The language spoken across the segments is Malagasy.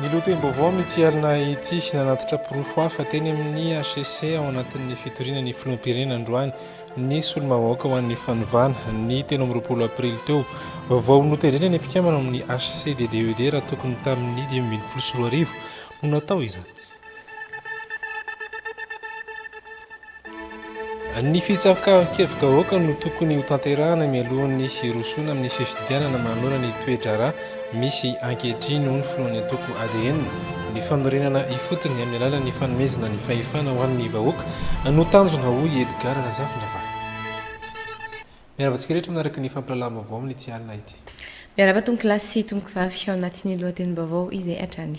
Ny lohatenim-baovao amin'ity alina ity, nanatitra porofo hafa teny amin'ny HCC ao anatin'ny fitoriana ny filoham-pirenena androany ny solombavambahoaka ho an'ny fanovana ny telo amby roapolo aprily teo. Vao notendrena ny mpikambana ao amin'ny HCCDDED raha tokony tamin'ny dimy ambin'ny folo sy roa arivo no natao izany. Ny fitsabokavan-kevi-bahoaka no tokony hotanterahina mialohan'ny hirosoana amin'ny fifidianana manoloana ny toe-draharaha misy ankehitriny, hoy ny filohan'ny antoko adn. Ny fanorenana ifotony amin'ny alalan'ny fanomezana ny fahefana ho an'ny vahoaka no tanjona, hoy i Edgard Razafindravahy. Miarahaba antsika rehetra manaraka ny fampahalalam-baovao amin'ity alina ity. Miarahaba tompokolahy sy tompokvavy ao anatin'ny lohatenim-baovao izay hatrany.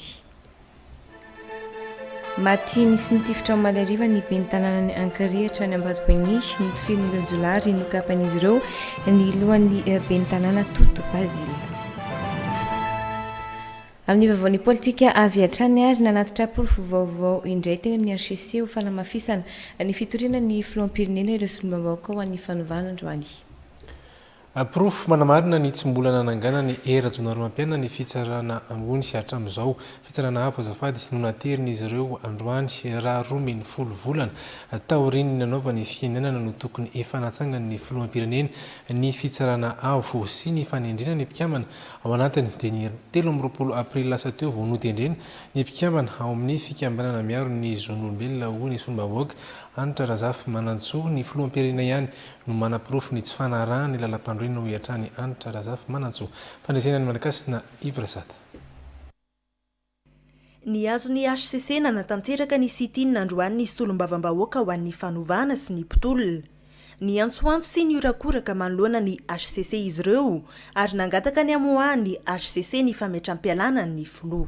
Maty nisy nitifitra omaly hariva ny ben'ny tanànan'i Ankirihatra any Ambatobeinihy, notifirin'ireo jiolahy ary nokapan'izy ireo ny lohan'ny ben'ny tanàna Toto Basile. Amin'ny vaovaon'ny politika avy hatrany ary nanatitra porofo vaovao indray teny amin'ny hcc ho fanamafisana ny fitoriana ny filoham-pirenena ireo solombavambahoaka ho an'ny fanovana androany. Porofo manamarina ny tsy mbola nananganan'i Hery Rajaonarimampianina ny fitsarana ambony hatramin'izao. Fitsarana avo azafady no naterin'izy ireo androany raha roa min folo volana taorian'ny nanaovany fihenenana no tokony hifanatsangan'ny filoham-pirenena ny fitsarana avo sy ny fanendrena ny mpikambana ao anatiny dia ny telo amby roapolo aprily lasa teo vao notendrena ny mpikambana ao amin'ny fikambanana miaro ny zon'olombelona hoy ny solombavaoaka Hanitra Razafimanantsoa ny filoham-pirenena ihany no manaporofo ny tsy fanarahan'ny lalampanorenana hoy hatrany Hanitra Razafimanantsoa, fandresena ny Malagasy na Ivrasat. Ny azon'ny hcc nanatanteraka ny sit-in androany ny Solombavambahoaka ho an'ny fanovana sy ny mpitolona. Niantsoantso sy nihorakoraka manoloana ny hcc izy ireo ary nangataka ny hamoahan'ny hcc ny fametram-pialana ny filoha.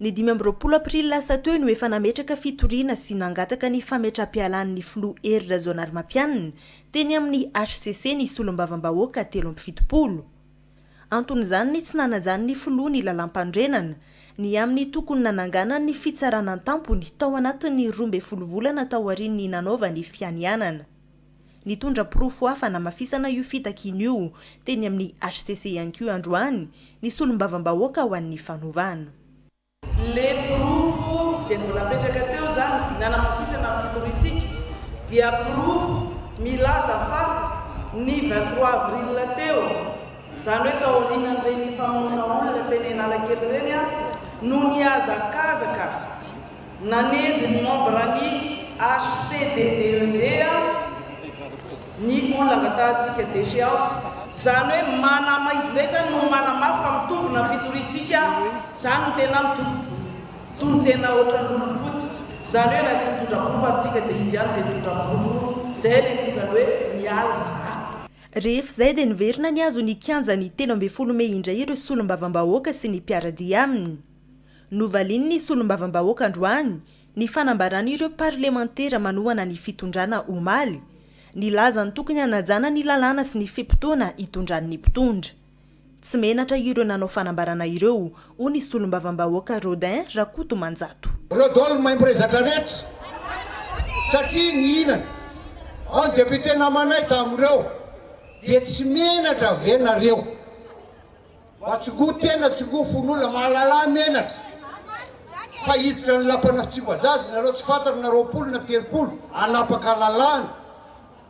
Ny dimy amby roapolo aprily lasa teo no efa nametraka fitoriana sy nangataka ny fametra-pialan'ny filoha Hery Rajaonarimampianina teny amin'ny hcc ny solombavambahoaka telo amby fitopolo. Anton'izany ny tsy nanajan'ny filoha ny lalàmpanorenana, ny amin'ny tokony nananganany ny fitsarana an-tampony tao anatin'ny roa ambin'ny folo volana taorian'ny nanaovany fianianana. Nitondra porofo hafa hanamafisana io fitakiana io teny amin'ny hcc ihany koa androany ny solombavambahoaka ho an'ny fanovana. Ilay porofo izay vao napetraka teo izany ny hanamafisana ny fitoriantsika dia porofo milaza fa ny vingt trois avril teo, izany hoe tao aorianan'ireny famonoana olona teny Analakely ireny no nihazakazaka. Nanendry ny membran'ny HCDDED ny olona angatahantsika déchéance, izany hoe manamaizimaizana no manamafy fa mitombina ny fitoriantsika, izany no tena mitony tena ohatran'ny lolo fotsy, izany hoe na tsy mitondra porofo ary tsika dia izy ihany dia mitondra ny porofo, izay ilay tongany hoe miala sahady. Rehefa izay dia niverina nihazo ny kianjan'ny telo ambin'ny folo mey indray ireo solombavambahoaka sy ny mpiara-dia aminy. Novalian'ny solombavambahoaka androany ny fanambaran'ireo parlemantera manohana ny fitondrana omaly, nilaza ny tokony hanajana ny lalàna sy ny fe-potoana hitondran'ny mpitondra. Tsy menatra ireo nanao fanambarana ireo, hoy ny solombavambahoaka Rodin Rakotomanjato. Ireo dol maimbo rezatra rehetra satria nihinana ao ny député namanay tamin'ireo dia tsy menatra ve nareo? Mba tsingo tena tsingo fon'olona mahalala menatra fa hiditra ny lapana fitsimbazaza ianareo tsy fantany na roapolo na telopolo hanapaka lalàna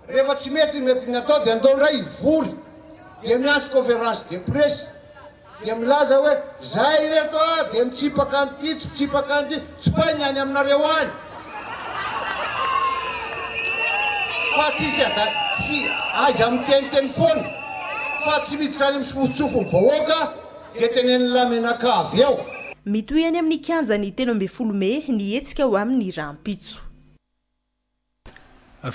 rehefa tsy mety ny mety ny atao dia andao indray hivory dia miantso conférence de presse dia milaza hoe zay ireto a dia mitsipaka an'ity tsy mitsipaka an'ity tsipay ny any aminareo any fa tsisy ada tsy aiza miteniteny foana fa tsy miditra any misofotsofony vahoaka ze teneniny lamenaka avy eo. Mitohy any amin'ny kianjan'ny telo ambin'ny folo mey ny hetsika ho amin'ny rahampitso.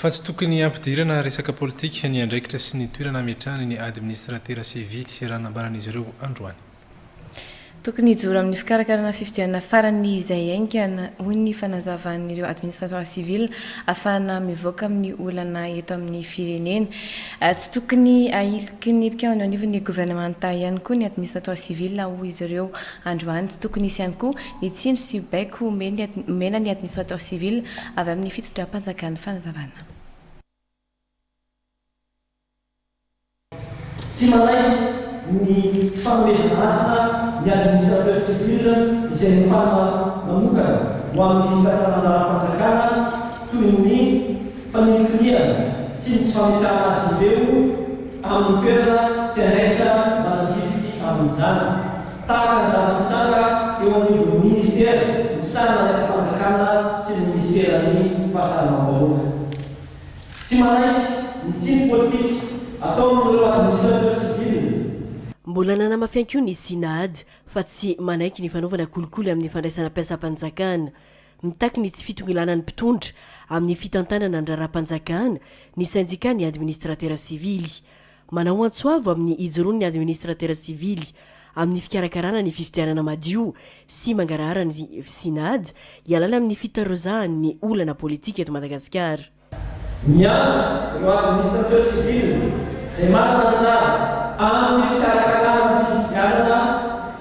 Fa tsy tokony hampidirana resaka politika ny andraikitra sy ny toerana hametrahany ny Administratera Sivily, raha nambaran'izy ireo androany. Tokony hijoro amin'ny fikarakarana fifidianana farany izay haingana, hoy ny fanazavan'ireo administrateur civil, hahafahana mivoaka amin'ny olana eto amin'ny firenena. Tsy tokony ahiliky ny mpikambana eo anivon'ny governemanta ihany koa ny administrateur civil, hoy izy ireo androany. Tsy tokony hisy ihany koa ny tsindry sy baiko omena ny administrateur civil avy amin'ny fitondram-panjakana, fanazavana. Tsy manaiky ny tsy fanomezana asa ny administrateur civil izay nofanina manokana ho amin'ny fitantanana ara-panjakana toy ny fanilikilihana sy ny tsy fametrahana azy ireo amin'ny toerana sy andraikitra manandrify amin'izany tahaka ny zava-nitranga eo anivon'ny minisitera misahana ny asam-panjakana sy ny minisiteran'ny fahasalamam-bahoaka. Tsy manaiky ny tsiny politika ataon'ireo administrateurs civils. Mbola nanamafy koa ny CNAAD fa tsy manaiky ny fanaovana kolikoly amin'ny fandraisana mpiasam-panjakana. Mitaky ny tsy fitongilanan'ny mpitondra amin'ny fitantanana ny raharaham-panjakana ny sendikà ny administratera sivily. Manao antso avo amin'ny hijoroan'ny administratera sivily amin'ny fikarakarana ny fifidianana madio sy mangarahara ny Cinad hialana amin'ny fitarozahan'ny olana politika eto Madagasikara. Miantso ireo administratera sivily izay manana anjara amin'ny fikarakarana ny fifidianana,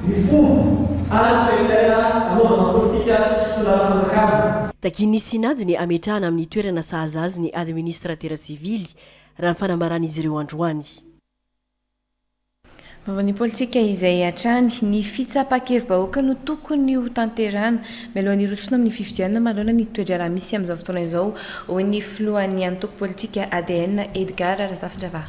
Ny fomba ary toe-tsaina hanaovana politika sy fitondrana fanjakana. Takian'ny Synod ny hametrahana amin'ny toerana sahaza azy ny Administratera Sivily, raha ny fanambaran'izy ireo androany. Vaovaon'ny politika izay hatrany, ny fitsapan-kevi-bahoaka no tokony ho tanterahana, mialoha ny hirosoana amin'ny fifidianana manoloana ny toe-draharaha misy amin'izao fotoana izao, hoy ny filohan'ny antoko politika ADN, Edgard Razafindravaha.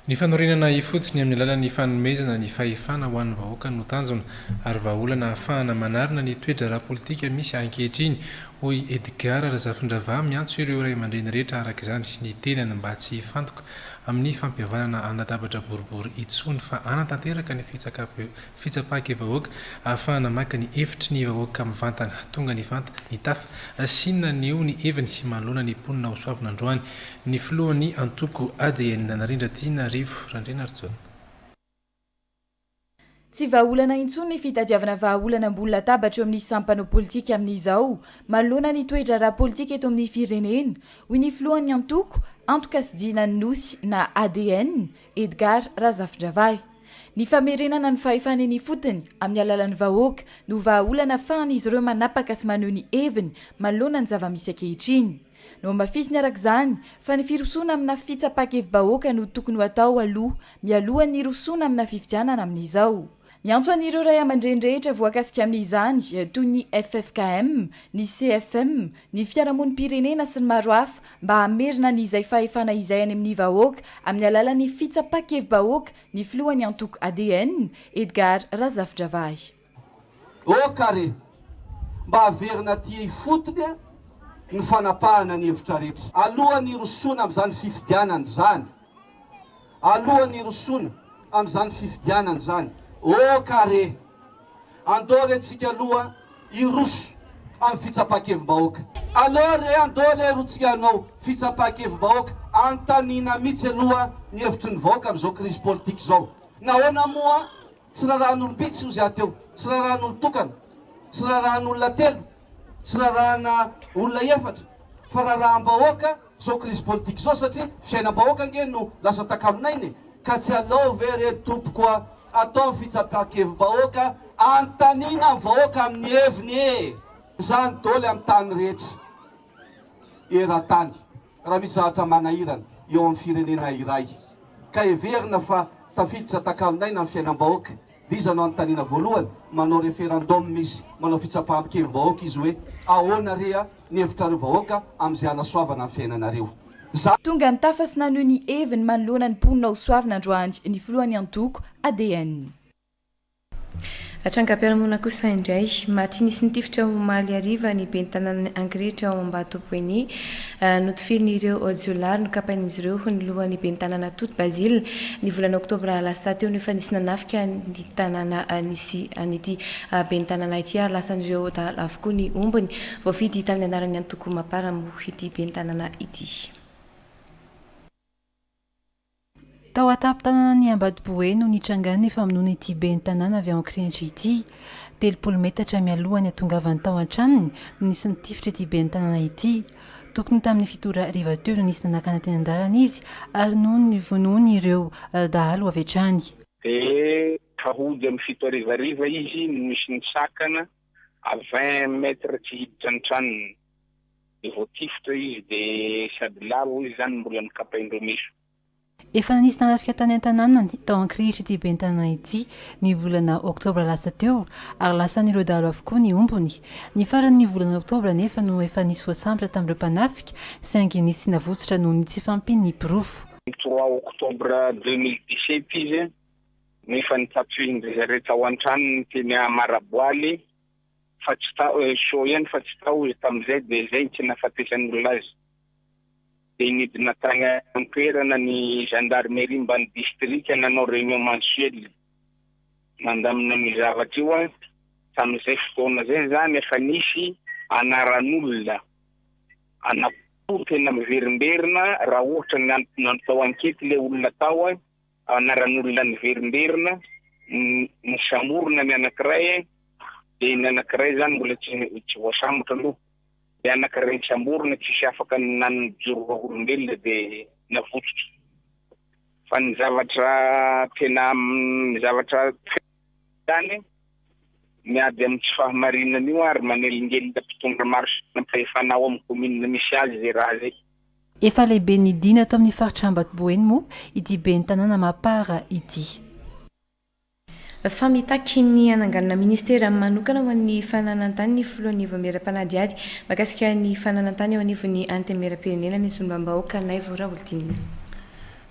Ny fanorenana ifotony amin'ny alalan'ny fanomezana ny fahefana ho an'ny vahoaka no tanjona ary vahaolana ahafahana manarina ny toe-draharaha politika misy ankehitriny, hoy Edgard Razafindravahy miantso ireo ray aman-dreny rehetra araka izany ny tenany mba tsy hifantoka amin'ny fampihavanana an-databatra boribory intsony fa hanatanteraka ny fitsaka-pe fitsapan-kevahoaka ahafahana maka ny hevitry ny vahoaka mivantana, tonga nivanta, nitafa, sy naneho ny heviny manoloana ny mponina hosoavina androany, ny filohan'ny antoko ADN, Narindra-Tianarivo Randrianarijaona. Tsy vahaolana intsony ny fitadiavana vahaolana ambony latabatra eo amin'ny sampanao politika amin'izao, manoloana ny toe-draharaha politika eto amin'ny firenena, hoy ny filohan'ny antoko, Antoka sy Dina ny Nosy na ADN, Edgard Razafindravahy. Ny famerenana ny fahefany eny ifotony amin'ny alalan'ny vahoaka no vahaolana afahan'izy ireo manapaka sy maneho ny heviny manoloana ny zava-misy ankehitriny. Nohamafisiny araka izany fa ny firosoana amina fitsapan-kevi-bahoaka no tokony ho atao aloha mialohan'ny hirosoana amina fifidianana amin'izao. Miantso an'ireo ray aman-dreny rehetra voakasika amin'izany, toy ny ffkm, ny CFM, ny fiarahamonim-pirenena sy ny maro hafa, mba hamerina ny izay fahefana izay any amin'ny vahoaka amin'ny alalan'ny fitsapa-kevi-bahoaka ny filohan'ny antoko ADN, Edgar Razafindravahy. Oh ka re! Mba averina aty ifotony ny fanapahana ny hevitra rehetra, alohan'ny hirosoana amin'izany fifidianana izany. alohan'ny hirosoana amin'izany fifidianana izany. Oh ka re! Andao re tsika aloha hiroso amin'ny fitsapan-kevim-bahoaka. Aleo re andao re ro tsika hanao fitsapan-kevim-bahoaka anontaniana mitsy aloha ny hevitry ny vahoaka amin'izao krizy politika izao. Nahoana moa? Tsy rarahan'olom-bitsy ozy aho teo, tsy rarahan'olon-tokana, tsy rarahan'olona telo, tsy rarahana olona efatra, fa raraham-bahoaka zao krizy politika zao satria fiainam-bahoaka ange no lasa takamin'aina e! Ka tsy alao ve re tompoko a! atao ny fitsapan-kevim-bahoaka anontaniana ny vahoaka amin'ny heviny e! Izany doly amin'ny tany rehetra. eran-tany raha misy zavatra manahirana eo amin'ny firenena iray ka heverina fa tafiditra takalon'aina ny fiainam-bahoaka dia iza no anontaniana voalohany? manao referendum izy, manao fitsapam-pikevi-bahoaka izy hoe ahoana re a ny hevitrareo vahoaka amin'izay hanasoavana ny fiainanareo? Za. Tonga nitafa sy naneho ny heviny manoloana ny mponina hosoavina androany ny filohan'ny antoko ADN. Trangam-piarahamonina kosa indray. Maty nisy nitifitra omaly hariva ny ben'ny tanànan'i Ankirihitra ao Ambatoboeny. Notifirin'ireo jiolahy nokapain'izy ireo ny lohan'ny ben'ny tanàna Toty Bazile ny volana oktobra lasta teo no efa nisy nanafika ny tanàna nisy an'ity ben'ny tanàna ity ary lasan'ireo dahalo avokoa ny ombiny. Voafidy tamin'ny anaran'ny antoko Mapar moa ity ben'ny tanàna ity. Tao an-tampon-tanànan'i Ambatobohay no nitrangan'ny famonoana ity ben'ny tanàna avy ao Ankirihitra ity. Telopolo metatra mialoha ny hahatongavany tao an-tranony no nisy nitifitra ity ben'ny tanàna ity. Tokony tamin'ny fito ora hariva teo no nisy nanakana teny an-dalana izy ary noho ny vonoiny ireo dahalo avy hatrany. Dia hody amin'ny fito hariva hariva izy no nisy nisakana à vingt mètres tsy hiditra ny tranony. Dia vao tifitra izy dia sady lavo hoy izy zany mbola nokapain'ireo meso. Efa nanisy narafika tany an-tanànany, tao Ankirihitra ity ben'ny tanàna ity, ny volana oktobra lasa teo, ary lasan'ireo dahalo avokoa ny ombiny. Ny faran'ny volana oktobra anefa no efa nisy voasambotra tamin'ireo mpanafika, saingy nisy navotsotra noho ny tsy fahampian'ny porofo. Ny trois oktobra deux mille dix-sept izy no efa nitsatohin'dry zareo tao an-tranony teny Maraboaly. fa tsy tao eh, soa ihany fa tsy tao izy tamin'izay dia izay no tsy nahafatesan'ny olona azy. Dia nidina tany an-toerana ny gendarmerie mban'ny distrika nanao réunion mensuelle mandamina amin'io zavatra io an, tamin'izay fotoana izay izany efa nisy anaran'olona anankiroa tena miverimberina raha ohatra ny antony natao ankety ilay olona tao an, Anaran'olona niverimberina, nisamborina ny anankiray, dia ny anankiray izany mbola tsy voasambotra aloha, ilay anankiray nisamborina tsisy afaka nanjoro vavolombelona dia navotsotra. Fa ny zavatra tena, ny zavatra très izany, miady amin'ny tsy fahamarinana io ary manelingelina mpitondra maro sy mpampahefana ao amin'ny commune misy azy izay raha izay. Efa lehibe nidina ato amin'ny faritra Ambatoboeny moa ity ben'ny tanàna Mapara ity. Fa mitaky ny hananganana ministera manokana ho an'ny fananantany ny filohan'ny Vaomieram-panadihady mahakasika ny fananantany eo anivon'ny Antenimieram-pirenena ny solombambahoaka Naivo Raholdina.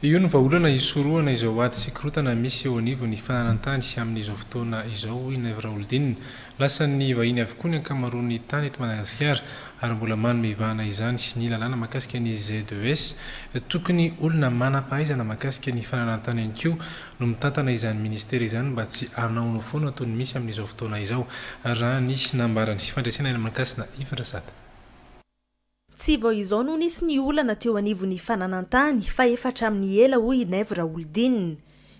Io no vahaolana hisorohana izao ady sy korontana misy eo anivon'ny fananantany amin'izao fotoana izao, hoy Naivo Raholdina. Lasan'ny vahiny avokoa ny ankamaroan'ny tany eto Madagasikara ary mbola manome vahana izany ny lalàna mahakasika ny ZES. Tokony olona manam-pahaizana mahakasika ny fananantany ihany koa no mitantana izany minisitera izany mba tsy hanaonao foana toy ny misy amin'izao fotoana izao, raha ny nambaran'ny fandresena eny Mankasina, Ivan Rasata. Tsy vao izao no nisy ny olana teo anivon'ny fananan-tany fa efa hatramin'ny ela hoy i Naivo Raholidinina.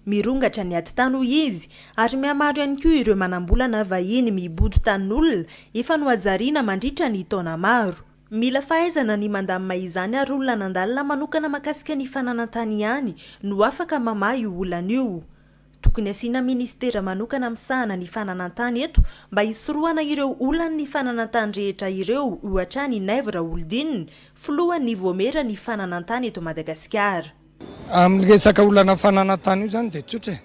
Mirongatra ny ady tany hoy izy ary mihamaro ihany koa ireo manam-bola na vahiny mibodo tanin'olona efa nohajariana mandritra ny taona maro. Mila fahaizana ny mandamina izany ary olona nandalina manokana makasika ny fananan-tany ihany no afaka mamaha io olana io. Tokony asiana ministera manokana misahana ny fananantany eto mba hisorohana ireo olan' ny fananantany rehetra ireo, ohatra an' i Naivo Raholdina, filohan' ny Voamera ny fananantany eto Madagasikara. Amin' ny resaka olana fananantany io izany dia tsotra e.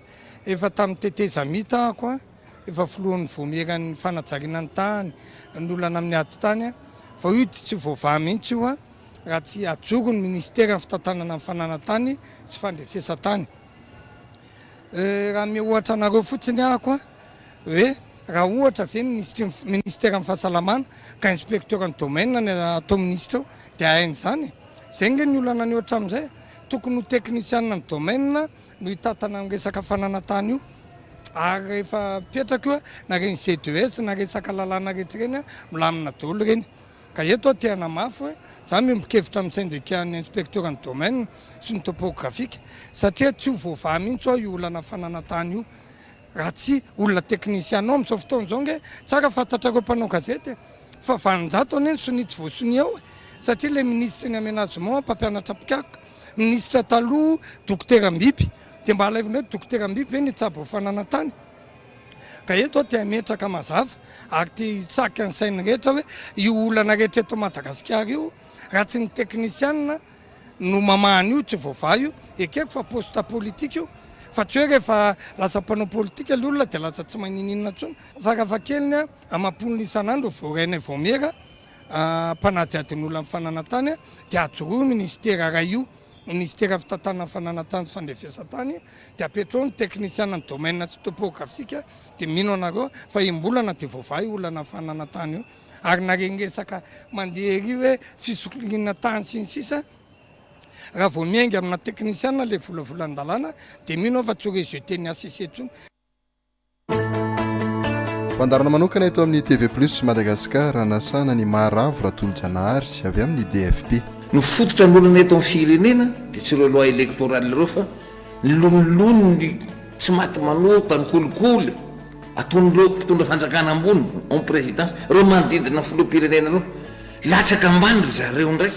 Efa tamin' ny tetezamita aho koa efa filohan' ny Voamera ny fanajariana ny tany, ny olana amin' ny ady tany, vao io dia tsy voavaha mihitsy io raha tsy hajoro ny ministera fitantanana ny fananantany sy fandrefesan-tany. Raha hanome ohatra anareo fotsiny aho ko hoe raha ohatra ve ny minisitry ny minisiteran'ny fahasalamana ka inspecteur ny domaine ny atao minisitra eo dia hainy izany e! izay ange ny olana anio hatramin'izay tokony ho teknisianina ny domaine no hitatana ny resaka fananantany io ary rehefa mipetraka io na ireny CDES na resaka lalàna rehetra ireny milamina daholo ireny. Ka eto aho te hanamafy hoe za miombon-kevitra amin'ny sendikan'ny inspektioran'ny domaine sy ny topografika satria tsy ho voavaha mihitsy ho'aho io olana fananantany io raha tsy olona teknisiana ao amin'izao fotoana izao ange tsara fantatrareo mpanao gazety e! fa valonjato anie ny sonia tsy voasonia ao e! satria ilay minisitry ny amenagement mpampianatra mpikaroka minisitra taloha dokotera Mbiby dia mba alaivonareo dokotera Mbiby ve ny hitsabo fananantany? Ka eto aho te hametraka mazava ary te hitsaka ny sain'ny rehetra hoe io olana rehetra eto Madagasikara io raha tsy ny teknisianina no mamaha an'io tsy voavaha io. Ekeko fa poste politika io fa tsy hoe rehefa lasa mpanao politika ilay olona dia lasa tsy manininona intsony. Farafahakeliny amam-polony isan'andro voarainay vaomiera mpanadihadin'olona ny fananantany dia ajoroy io minisitera iray io. Minisitera fitantanana fananan-tany sy fandrefesan-tany dia apetraho ny teknisianan'ny domaine sy topografika dia mino anareo fa im-bolana dia voavaha io olana fananan-tany io ary na reny resaka mandeha ery hoe fisokiriana tany sy ny sisa raha vao miainga amina teknisiana ilay volavolan-dalàna dia mino aho fa tsy ho rejeter ny HCC intsony. Fandaharana manokana eto amin'ny TV Plus Madagascar anasana an'i Maharavo Ratolojanahary avy amin'ny DFP. Ny fototra ny olana eto amin'ny firenena dia tsy ireo loi electorale ireo fa ny loniloniny tsy maty manota, ny kolikoly ataon'ireo mpitondra fanjakana ambony en présidence, ireo manodidina ny filoham-pirenena ireo. Latsaka ambany ry zareo indray.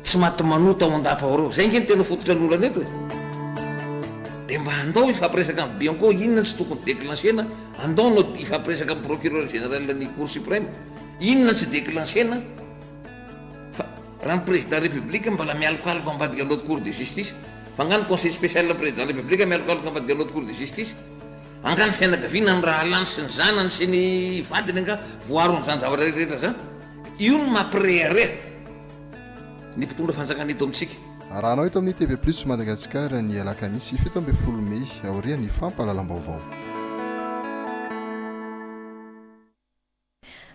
Tsy maty manota ao an-dapa ao reo. Zay nge no tena fototra ny olana eto e. Dia mba andao hifampiresaka amin'ny Bianco inona tsy tokony declencher-na, andao anao hifampiresaka amin'ny Procureur Général ny Cour Supreme inona tsy declencher-na fa raha ny Président République mbola mialokaloka ambadika ny Haute Cour de Justice. Fa angaha ny Conseil Spécial ny Président République mialokaloka ambadika ny Haute Cour de Justice? Angaha ny fianakaviana, ny rahalahiny sy ny zanany sy ny vadiny angaha voaaron'izany zavatra rehetra zany? Io no mampirehareha. ny mpitondra fanjakana eto amintsika. Arahanao eto amin'ny TV Plus Madagascar ny alakamisy fito ambin'ny folo mey aorian'ny fampahalalam-baovao.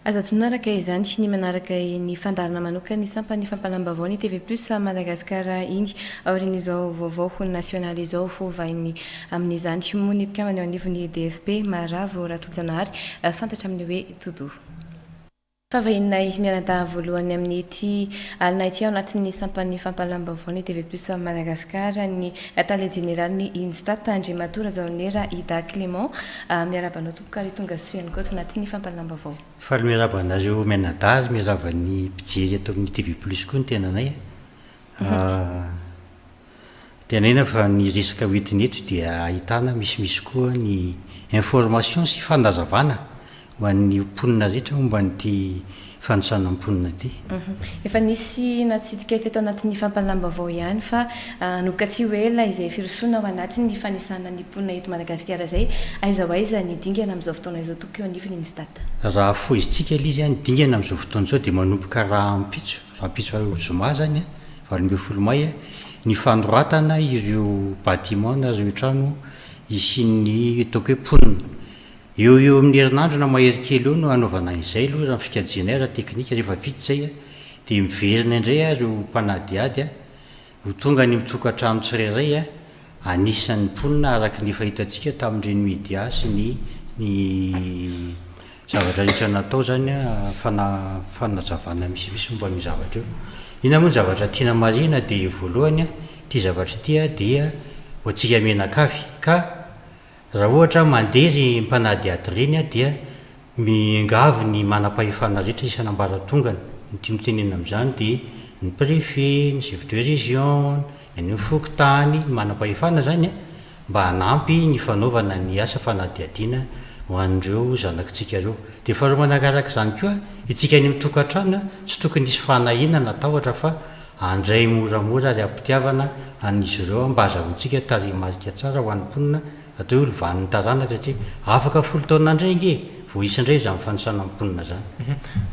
Aza adino araka izany ny manaraka ny fandaharana manokan'ny sampan'ny fampahalalam-baovao ny TV Plus Madagascar iny aorian'izao vaovao nasionaly izao ho vaininy amin'izany moa ny mpikambana eo anivon'ny DFP, Maravo Ratojanahary fantatra amin'ny hoe Todoa. Fahavahininay mianadahy voalohany amin'ity alina ity ao anatin'ny sampan'ny fampahalam-baovaon'ny TV Plus Madagascar ny Tale Jeneralin'ny INSTAT, Andriamatoa Rajaonera Ida Clément. Miarahaba anao tompoko ary tonga soa ihany koa ato anatin'ny fampahalam-baovao. Faly miarahaba anareo mianadahy ary miarahaba ny mpijery ato amin'ny TV Plus koa ny tenanay a. Tenenina fa ny resaka ho entina eto dia ahitana misimisy koa ny informations sy fanazavana ho an'ny mponina rehetra momba an'ity fanosana mponina ity. Efa nisy natsidika teto anatin'ny fampahalam-baovao ihany fa hanomboka tsy ho ela izay firosoana ao anatin'ny fanisana ny mponina eto Madagasikara izay aiza ho aiza ny dingana amin'izao fotoana izao tokoa eo anivon'ny Instat. Raha foizintsika ilay izy, ny dingana amin'izao fotoana izao dia manomboka rahampitso. Rahampitso zoma izany, valo ambin'ny folo mai, ny fanoratana ireo bâtiments na ireo trano hisian'ny ataoko hoe mponina. Eo ho eo amin'ny herinandro na mahery kely eo no hanaovana izay aloha raha ny fikajianay ara-teknika. Rehefa vita izay dia miverina indray ireo mpanadihady. Ho tonga ny mitokantrano tsirairay anisan'ny mponina araka ny efa hitantsika tamin'ireny media sy ny ny zavatra rehetra natao izany fana fanazavana misimisy momba an'io zavatra io. Inona moa ny zavatra tiana marihina dia voalohany ity zavatra ity dia ho antsika mianakavy ka Raha ohatra aho mandeha ry mpanadihady ireny aho dia miangavy ny manam-pahefana rehetra isan'ambaratongany, ny tiany tenenina amin'izany dia ny préfet, ny chef de région, ny an'ny fokontany, ny manam-pahefana izany an, mba hanampy ny fanaovana ny asa fanadihadiana ho an'ireo zanakitsika ireo. Dia faharoa manaraka izany koa, itsika any amin'ny tokantrano an, tsy tokony hisy fanahiana na tahotra fa Handray moramora ary am-pitiavana an'izy ireo aho mba hazahoantsika tarehimarika tsara ho an'ny mponina hatao hoe lovan'ny taranaka satria afaka folo taona indray ange vao hisy indray izany fanisana ny mponina izany.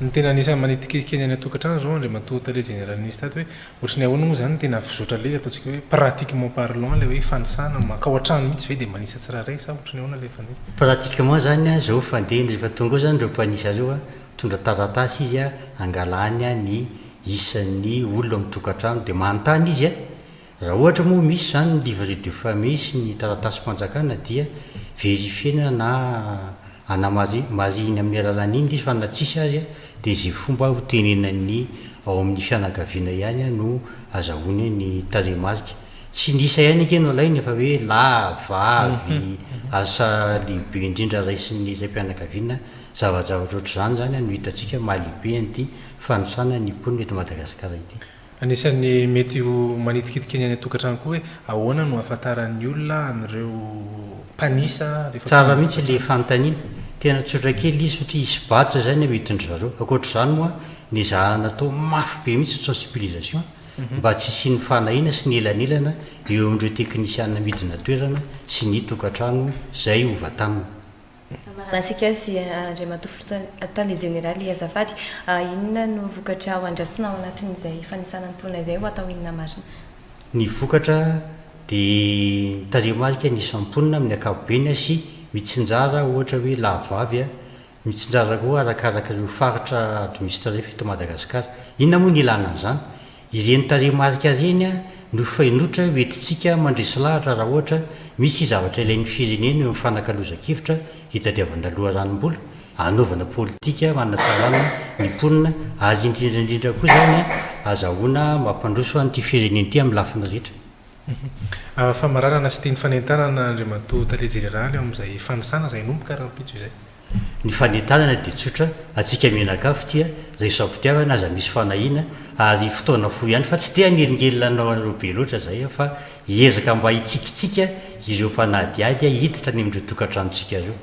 Ny tena anisan'ny manitikitika ny any an-tokantrano izao Andriamatoa Tale Jeneraly nisy tato hoe ohatry ny ahoana moa izany ny tena fizotra ilay izy ataontsika hoe pratiquement parlant ilay hoe fanisana, mankao an-trano mihitsy ve dia manisa tsirairay sa ohatry ny ahoana ilay fanisa? Pratiquement izany an, izao fandeha ny rehefa tonga ao izany ireo mpanisa ireo an, mitondra taratasy izy an, hangalany an ny isan'ny olona mitokantrano dia manontany izy a! Raha ohatra moa misy izany ny livret de famille sy ny taratasim-panjakana dia verifiena na anamari marihina amin'ny alalan'iny ilay izy fa na tsisy ary a dia izay fomba ho tenenan'ny ao amin'ny fianakaviana ihany a no azahoany ny tarehimarika. Tsy ny isa ihany ange no alaina fa hoe lahy, vavy, asa lehibe indrindra raisin'ny raim-pianakaviana, zava-javatra ohatr'izany izany a no hitantsika maha-lehibe an'ity. fanisana ny mponina eto Madagasikara ity. Anisan'ny mety ho manitikitika ny any an-tokantrano koa hoe ahoana no ahafantaran'ny olona an'ireo mpanisa rehefa tonga Tsara mihitsy ilay fanontaniana. Tena tsotra kely izy satria hisy badge izay ny amidin-dry zareo. Ankoatr'izany moa ny ezahana atao mafy be mihitsy ny sensibilisation mba tsy hisian'ny fanahiana sy ny elanelana eo amin'ireo teknisiana midina toerana sy ny tokantrano izay hova taminy. Amarana antsika sy Andriamatoa Filoha Tale Jeneraly azafady, inona no vokatra ho andrasana ao anatin'izay fanisana ny mponina izay ho atao inona marina? Ny vokatra dia ny tarehimarika ny isan'ny mponina amin'ny ankapobeny sy mitsinjara ohatra hoe lahavavy, mitsinjara koa arakaraka ireo faritra administrer eto Madagasikara. Inona moa ny ilana an'izany? Ireny tarehimarika ireny no fainotra ho entintsika mandresy lahatra raha ohatra misy zavatra ilain'ny firenena eo amin'ny fanakalozan-kevitra hitadiavana loharanom-bola, hanaovana politika hanatsarana ny mponina ary indrindra indrindra koa izany hazahoana mampandroso an'ity firenena ity amin'ny lafiny rehetra. Famaranana sy tiany fanentanana Andriamatoa Tale Jeneraly ao amin'izay fanisana izay hinomboka rahampitso izay. Ny fanentanana dia tsotra, antsika mianakavy tia resy am-pitiavana aza misy fanahiana ary fotoana fohy ihany fa tsy te hanelingelina anao anareo be loatra izay aho fa hiezaka mba hitsikitsiky ireo mpanadihady hiditra any amin'ireo tokantranontsika ireo.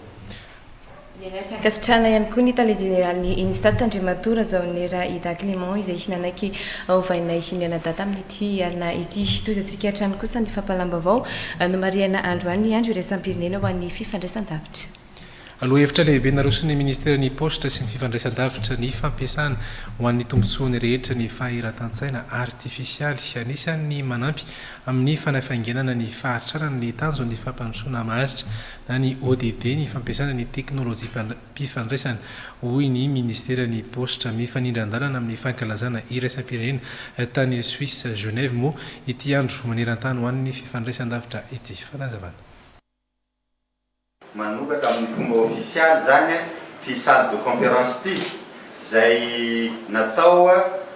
Niaraha-tsy ankasitrahana ihany koa ny tale jeneralin'ny Unistat, Andriamatoa Rajaonera Ida Clément izay hina anaiky hovainay mianadahy tamin'ity alina ity. Tohizantsika hatrany kosa ny fampahalam-baovao nomarihana androany ny andro iraisam-pirenena ho an'ny fifandraisan-davitra. Lohahevitra lehibe naroson'ny Ministeran'ny Paositra sy ny Fifandraisandavitra ny fampiasana ho an'ny tombontsoany rehetra ny fahiratan-tsaina artifisialy. Anisan'ny manampy amin'ny fanafainganana ny fahatrarana ny tanjon'ny fampandrosoana maharitra na ny ODD ny fampiasana ny teknolojiam-pifandraisana, hoy ny Ministeran'ny Paositra. Mifanindran-dalana amin'ny fankalazana iraisam-pirenena tany Suisse, Genève, moa ity Andro maneran-tany ho an'ny Fifandraisandavitra ity. Fanazavana. Manoratra amin'ny fomba ofisialy izany ity salle de conférence ity, izay natao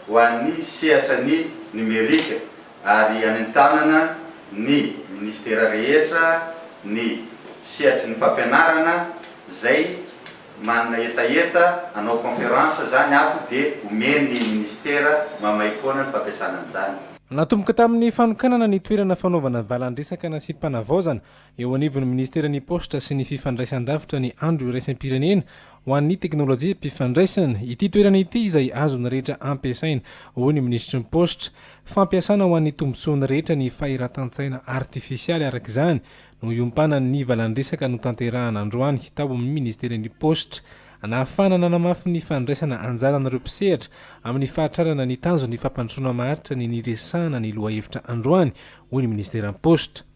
ho an'ny sehatra ny Numerika ary anentanana ny Ministera rehetra, ny sehatry ny fampianarana izay manana hetaheta hanao conférence izany ato dia omen'ny Ministera maimaimpoana ny fampiasana an'izany. Natomboka tamin'ny fanokanana ny toerana fanaovana valandresaka nasiam-panavaozana Eo anivon'ny Ministeran'ny Paositra sy ny Fifandraisan-davitra ny Andro Iraisam-pirenena ho an'ny Teknolojiam-pifandraisana ity toerana ity izay azon'ny rehetra ampiasaina, hoy ny Minisitry ny Paositra. Fampiasana ho an'ny tombontsoan'ny rehetra ny fahiratan-tsaina artifisialy araka izany no iompanan'ny valandresaka notanterahana androany tao amin'ny Ministeran'ny Paositra anahafahana nanamafy ny fandraisana anjaran'ireo mpisehatra amin'ny fahatrarana ny tanjon'ny fampandrosoana maharitra ny niresahana ny lohahevitra androany, hoy ny Ministeran'ny Paositra.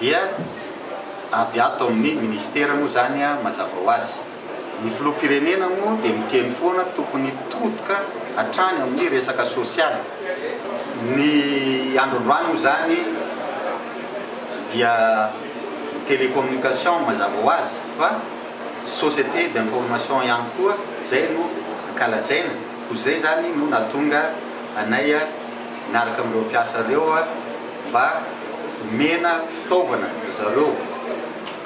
Dia avy ato amin'ny Ministera moa izany mazava ho azy. Ny Filoham-pirenena moa dia miteny foana tokony hitodika hatrany amin'ny resaka sosialy. Ny andro androany moa izany dia ny télécommunication mazava ho azy fa société d'information ihany koa izay no ankalazaina. Koa izay izany no nahatonga anay miaraka amin'ireo mpiasa ireo. mba omena fitaovana ry zareo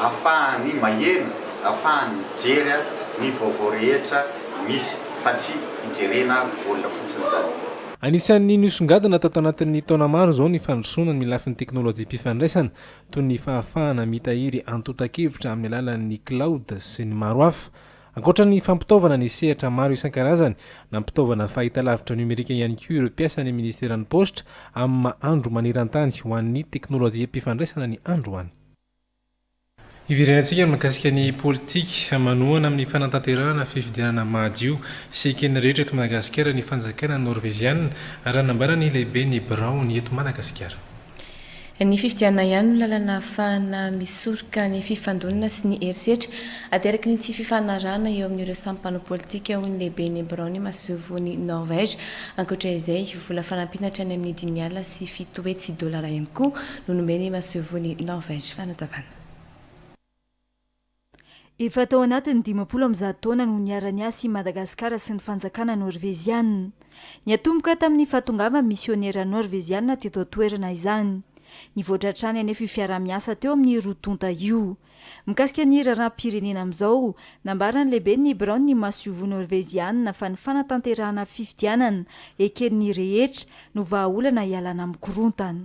afahany maheno, afahany mijery ny vaovao rehetra misy fa tsy hijerena baolina fotsiny daholo. Anisan'ny nosongadina tato anatin'ny taona maro izao ny fandrosoana ny lafiny teknolojiam-pifandraisana toy ny fahafahana mitahiry antontan-kevitra amin'ny alalan'ny cloud sy ny maro hafa. Ankoatra ny fampitaovana ny sehatra maro isan-karazany, nampitaovana fahitalavitra nomerika ihany koa ireo mpiasan'ny Ministeran'ny Paositra amin'ny maha Andro manerantany ho an'ny teknolojiam-pifandraisana ny androany. Hiverenantsika mikasika ny politika manohana amin'ny fanatanterahana fifidianana madio sy eken'ny rehetra eto Madagasikara ny fanjakana Norveziana, raha nambaran'ny lehiben'ny biraony eto Madagasikara. Ny fifidianana ihany no lalana ahafahana misoroka ny fifandonana sy ny herisetra ateraky ny tsy fifanarahana eo amin'ireo samy mpanao politika, hoy ny lehiben'ny biraon'ny masoivohon'i Norvège. Ankoatra izay, vola fanampiana hatrany amin'ny dimy alina sy fito hetsy dolara ihany koa no nomen'ny masoivohon'i Norvège fanazavana. Efa tao anatin'ny dimampolo amby zato taona no niara-niasa i Madagasikara sy ny Fanjakana Norveziana. Niatomboka tamin'ny fahatongavan'ny misiônera Norveziana teto an-toerana izany. Nivoatra hatrany anefa io fiaraha-miasa teo amin'ny roa tonta io. Mikasika ny raharaham-pirenena amin'izao, nambaran'ny lehiben'ny biraon'ny masoivoho Norveziana fa ny fanatanterahana fifidianana eken'ny rehetra no vahaolana hialana amin'ny korontana.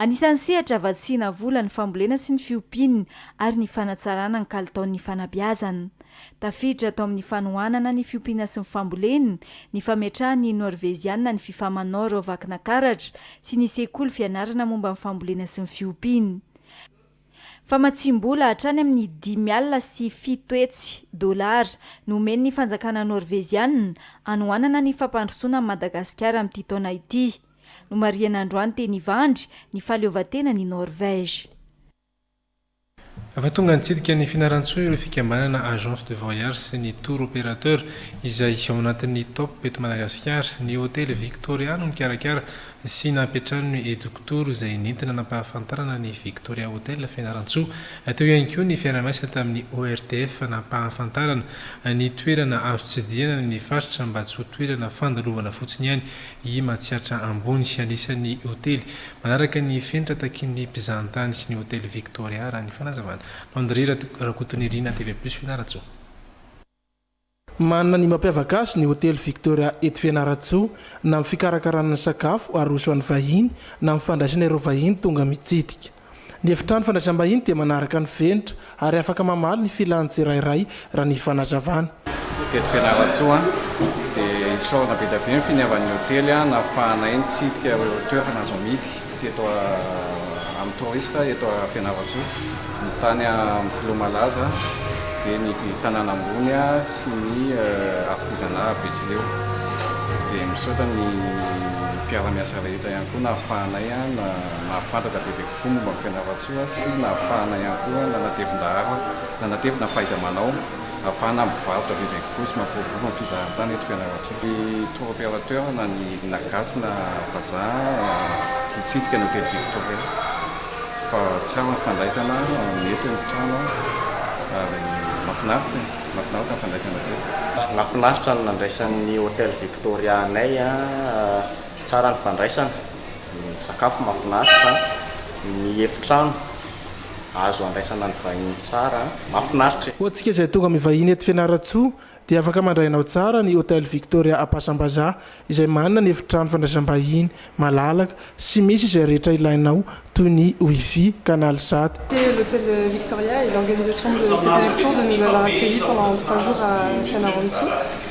Anisan'ny sehatra vatsiana vola ny fambolena sy ny fiompiana ary ny fanatsarana ny kalitaon'ny fanabeazana. Tafiditra ato amin'ny fanohanana ny fiompiana sy ny fambolena ny fametrahan'ny Norveziana ny Fifaman Norov Akina Karatra sy ny sekoly fianarana momba ny fambolena sy ny fiompiana. Famatsiam-bola hatrany amin'ny dimy alina sy fito hetsy dolara no omen'ny fanjakana Norveziana anohanana ny fampandrosoana an'i Madagasikara amin'ity taona ity. Nomarihana androany teny Ivandry ny fahaleovantenan' i Norvège. Efa tonga nitsidika ny Fianarantsoa ireo fikambanana Agence de voyage sy ny Tour opérateur izay ao anatin'ny Top eto Madagasikara. Ny Hotely Victoria no nikarakara sy nampiantrano ny Eductour izay nentina nampahafantarana ny Victoria Hotel Fianarantsoa. Teo ihany koa ny fiara-miasa tamin'ny ORTF nampahafantarana ny toerana azo tsidihana ny faritra mba tsy ho toerana fandalovana fotsiny ihany I Matsiatra Ambony, anisan'ny hotely manaraka ny fenitra takian'ny mpizahantany sy ny hotely Victoria, raha ny fanazavana. Landry Rakotonirina, TV Plus, Fianarantsoa. Manana ny mampiavaka azy ny hotely Victoria eto Fianarantsoa, na amin'ny fikarakarana ny sakafo aroso an'ny vahiny, na amin'ny fandraisana ireo vahiny tonga mitsidika. Ny Efitrano Fandraisam-bahiny dia manaraka ny fenitra ary afaka mamaly ny filan'ny tsirairay raha ny fanazavana. Tety Fianarantsoa dia isaorana be dia be ny finiavan'ny hotely nahafahanay nitsidika ireo toerana azo amidy teto amin'ny touriste eto Fianarantsoa, ny tany amin'ny filoha malaza dia ny tanàna ambony sy ny artisanat Betsileo. Dia misaotra ny mpiara-miasa rehetra ihany koa nahafahanay. Nahafantatra bebe kokoa momba an'i Fianarantsoa sy nahafahana ihany koa nanatevin-daharo, nanatevina ny fahaiza-manao ahafahana mivarotra bebe kokoa sy mampiroborobo ny fizahan-tany eto Fianarantsoa. Ny tour opérateur na ny na gasy na vazaha hitsidika ny hotely Victoria fa tsara ny fandraisana, mety ny trano ary mahafinaritra, mahafinaritra ny fandraisana teo. Nahafinaritra ny nandraisan'ny hotely Victoria anay, tsara ny fandraisana, ny sakafo mahafinaritra, ny efitrano azo andraisana ny vahiny tsara, mahafinaritra e! Ho antsika izay tonga mivahiny eto Fianarantsoa dia afaka mandray anao tsara ny Hotel Victoria Ampasambazaha izay manana ny efitrano fandraisam-bahiny malalaka sy misy izay rehetra ilainao toy ny Wi-Fi, canal sat. C'est l'Hotel Victoria et l'organisation de cette réduction de nous avoir accueillis pendant trois jours à Fianarantsoa.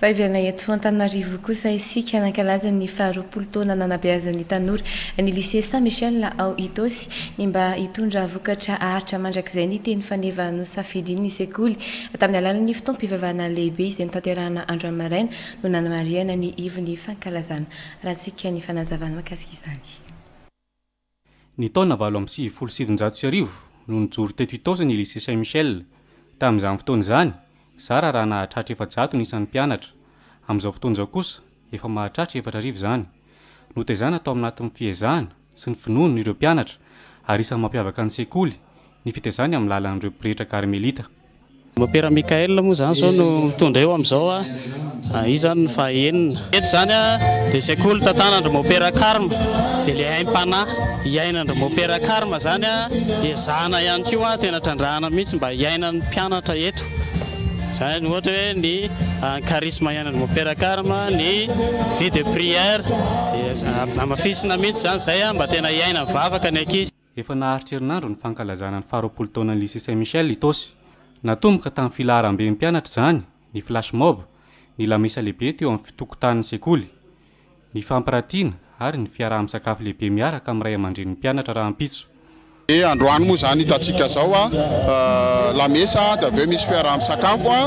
Vaivihana eto Antananarivo kosa isika nankalaza ny faharoapolo taona nanabeazan'ny tanora ny Lycée Saint Michel ao Itaosy ny mba hitondra vokatra haharitra mandrakizay ny teny faneva nosafidin'ny sekoly tamin'ny alalan'ny fotoam-pivavahana lehibe izay notanterahana andro amaraina no nanamarihana ny ivon'ny fankalazana. Arahantsika ny fanazavana mahakasika izany. Ny taona valo amby sivifolo sy sivinjato sy arivo no nijoro teto Itaosy ny Lycée Saint Michel. Tamin'izany fotoana izany, zara raha nahatratra efajato ny isan'ny mpianatra. Amin'izao fotoana izao kosa, efa mahatratra efatra arivo izany. Notaizana tao anatin'ny fiezahana sy ny finoany ireo mpianatra ary isan'ny mampiavaka ny sekoly ny fitaizany amin'ny lalan'ireo pretra karmelita. Mopera Michael moa izany izao no mitondra eo amin'izao, izy izany ny faha enina. Eto izany dia sekoly tantanan-dry Mopera Karma, dia ilay aim-panahy iainandry Mopera Karma izany ezahana ihany koa, tena trandrahana mihitsy mba hiainan'ny mpianatra eto, izany ohatra hoe ny charisme iainandry Mopera Karma, ny vie de prière, dia hamafisina mihitsy izany izay mba tena hiainan'ny vavaka ny ankizy. Efa naharitra herinandro ny fankalazana ny faharoapolo taonan'ny Lycée Saint Michel Itaosy. Natomboka tamin'ny filaharam-ben'ny mpianatra izany ny flash mob, ny lamesa lehibe teo amin'ny fitokontanin'ny sekoly, ny fampiratiana ary ny fiaraha-misakafo lehibe miaraka amin'ny ray aman-drenin'ny mpianatra rahampitso. Dia androany moa izany hitantsika izao lamesa dia avy eo misy fiaraha-misakafo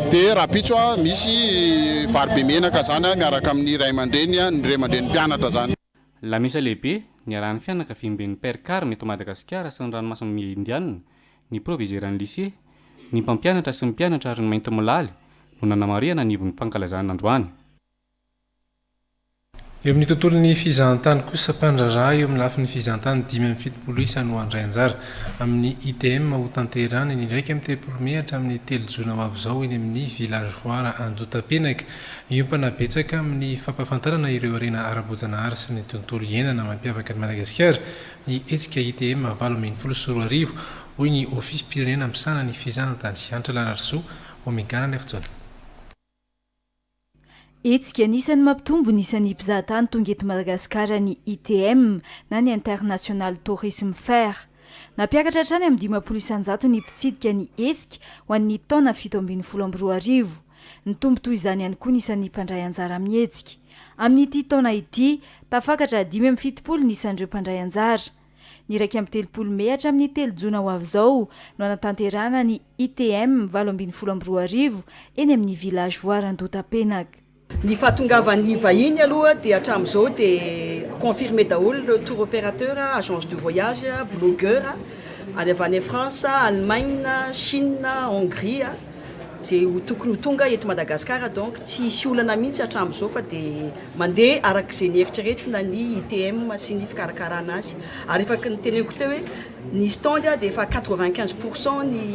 dia rahampitso misy vary be menaka izany miaraka amin'ny ray aman-dreny, ny ray aman-drenin'ny mpianatra izany. Lamesa lehibe niarahan'ny fianakaviamben'ny Père Carme eto Madagasikara sy ny ranomasimbe Indiana, ny proviseuran'ny lycée, ny mpampianatra sy ny mpianatra ary ny maintimolaly no nanamarihana ny ivon'ny fankalazana androany. Eo amin'ny tontolon'ny fizahantany kosa, mpandraharaha eo amin'ny lafiny fizahantany dimy amby fitopolo isa no handray anjara amin'ny ITM ho tanterahina ny iraika amby telopolo mey hatramin'ny telo jona ho avy izao eny amin'ny Village Foire Andotapenaka. Hiompana betsaka amin'ny fampahafantarana ireo harena ara-boajanahary sy ny tontolo iainana mampiavaka an'i Madagasikara ny hetsika ITM valo ambin'ny folo sy roa arivo, hoy ny Ofisim-pirenena misahana ny fizahantany, Hanitra Lanarisoa, Omegana ny afotoany. Hetsika anisan'ny mampitombo ny isan'ny mpizahatany tonga eto Madagasikara ny ITM na ny International Tourism Fair. Nampiakatra hatrany amin'ny dimampolo isan-jato ny mpitsidika ny hetsika ho an'ny taona fito ambin'ny folo amby roa arivo. Nitombo toy izany ihany koa ny isan'ny mpandray anjara amin'ny hetsika. Amin'ity taona ity, tafakatra dimy amby fitopolo ny isan'ireo mpandray anjara. Ny iraika amby telopolo mey hatramin'ny telo jona ho avy izao no hanatanterahana ny ITM valo ambin'ny folo amby roa arivo eny amin'ny Village Voire Andohatapenaka. Ny fahatongavan'ny vahiny aloha dia hatramin'izao dia confirmé daholo ireo tour opérateur, agence de voyage, blogueur ary avy any France, Allemagne, Chine, Hongrie. Ze ho tokony ho tonga eto Madagascar donc tsy hisy olana mihitsy hatramzao fa de mandeha araka ze nieritreretina ny ITM sy ny fikarakarana azy ary efa ky ny teneniko teo hoe ny stand de efa quatre vingt quinze pour cent ny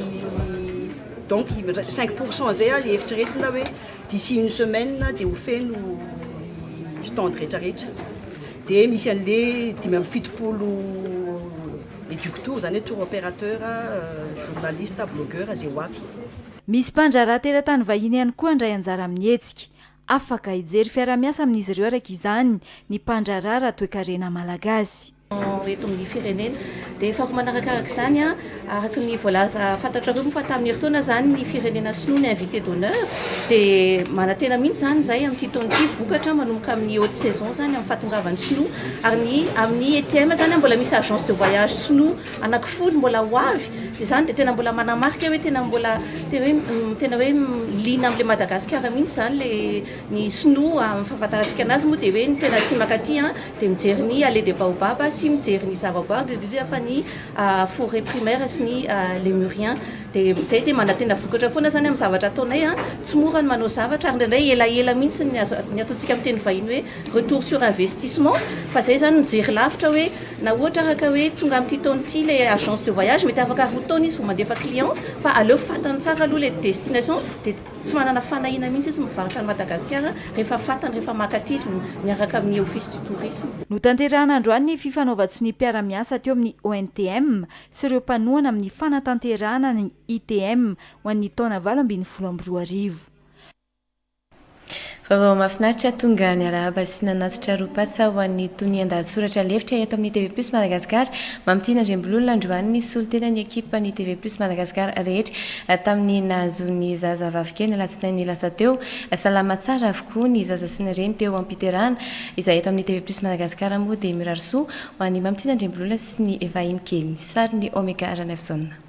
donc cinq pour cent zay aza eritreretina hoe d'ici une semaine de ho feno ny stand retraretra de misy anle dimy amby fitopolo Eductour izany hoe tour operateur, journaliste, blogueur, izay ho avy. Misy mpandraharaha teratany vahiny ihany koa handray anjara amin'ny hetsika. Afaka hijery fiarahamiasa amin'izy ireo araka izany ny mpandraharaha ara-toekarena malagasy. eto amin'ny firenena. Dia faharoa manarakaraka izany, araka ny voalaza fantatrareo moa fa tamin'ny herintaona izany ny firenena sinoa ny invité d'honneur dia manantena mihitsy izany izahay amin'ity taona ity vokatra manomboka amin'ny haute saison izany amin'ny fahatongavan'ny sinoa Ary ny amin'ny ETM zany mbola misy agence de voyage sinoa anaky folo mbola ho avy dia zany dia tena mbola manamarika hoe tena mbola tena hoe tena hoe liana amle Madagasikara mihintsy zany le ny sinoa amin'ny fahafantarantsika anazy moa dia hoe ny tena aty mankaty an dia mijery ny allée de baobab sy mijery ny zavaboary indrindra fa ny forêt primaire sy ny lemurien dia izay dia manantena vokatra foana zany amin'ny zavatra ataonay an tsy mora ny manao zavatra ary indraindray elaela mihintsy ny azo ny ataontsika amin'ny teny vahiny hoe retour sur investissement fa zay zany mijery lavitra hoe na ohatra araka hoe tonga amty taona ity le agence de voyage mety afaka roa taona izy vao mandefa client fa aleo fatany tsara aloha le destination de tsy manana fanahiana mihitsy izy mivarotra any Madagasikara rehefa fatany rehefa maka aty izy miaraka amin'ny office du tourisme. Notanterahina androany ny fifanaovan-tsonia mpiara-miasa teo amin'ny ONTM sy ireo mpanohana amin'ny fanatanterahana ny ITM ho an'ny taona valo ambin'ny folo amby roa arivo. Vaovao mahafinaritra tonga niarahaba sy nanatitra roa-patsa ho an'ny tonian-dahatsoratra lefitra eto amin'ny TV Plus Madagascar, Mamitiana Andriambololona androany ny solontenan'ny ekipan'ny TV Plus Madagascar rehetra tamin'ny nahazoan'ny zaza vavikely ny alatsinainy lasa teo. Salama tsara avokoa ny zaza sy ny reny teo am-piterahana. Izahay eto amin'ny TV Plus Madagascar moa dia mirary soa ho an'i Mamitiana Andriambololona sy ny vahinikely. Sarin'i Omega Ranaivozaona.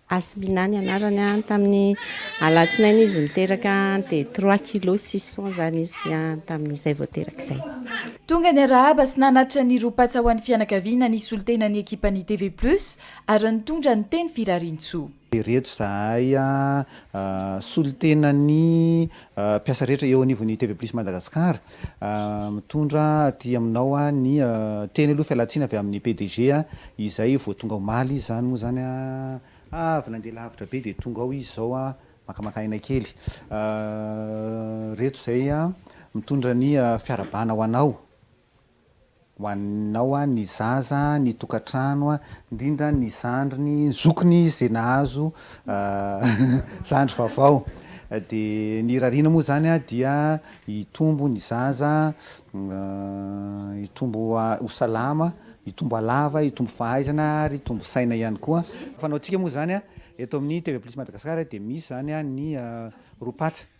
Asmina ny anarany an, tamin'ny alatsinainy izy niteraka an, dia trois kilos six cents izany izy an, tamin'izay vao teraka izay. Tonga niarahaba sy nanatitra ny ro-patsa ho an'ny fianakaviana nisolo tena ny ekipan'ny TV Plus ary nitondra ny teny firariantsoa. Ireto izahay an, solontenan'ny mpiasa rehetra eo anivon'ny TV Plus Madagascar, Mitondra aty aminao ny teny aloha fialantsiny avy amin'ny PDG izay vao tonga omaly izy izany moa izany avy nandeha lavitra be dia tonga ao izy izao makamakà aina kely. Ireto izay mitondra ny fiarahabana ho anao. ho anao ny zaza, ny tokantrano, indrindra ny zandriny, zokiny izay nahazo zandry vaovao dia ny irariana moa izany dia hitombo ny zaza, hitombo ho salama, hitombo halava, hitombo fahaizana ary hitombo saina ihany koa. Fanaontsika moa izany eto amin'ny TV Plus Madagascar dia misy izany ny roa patsa.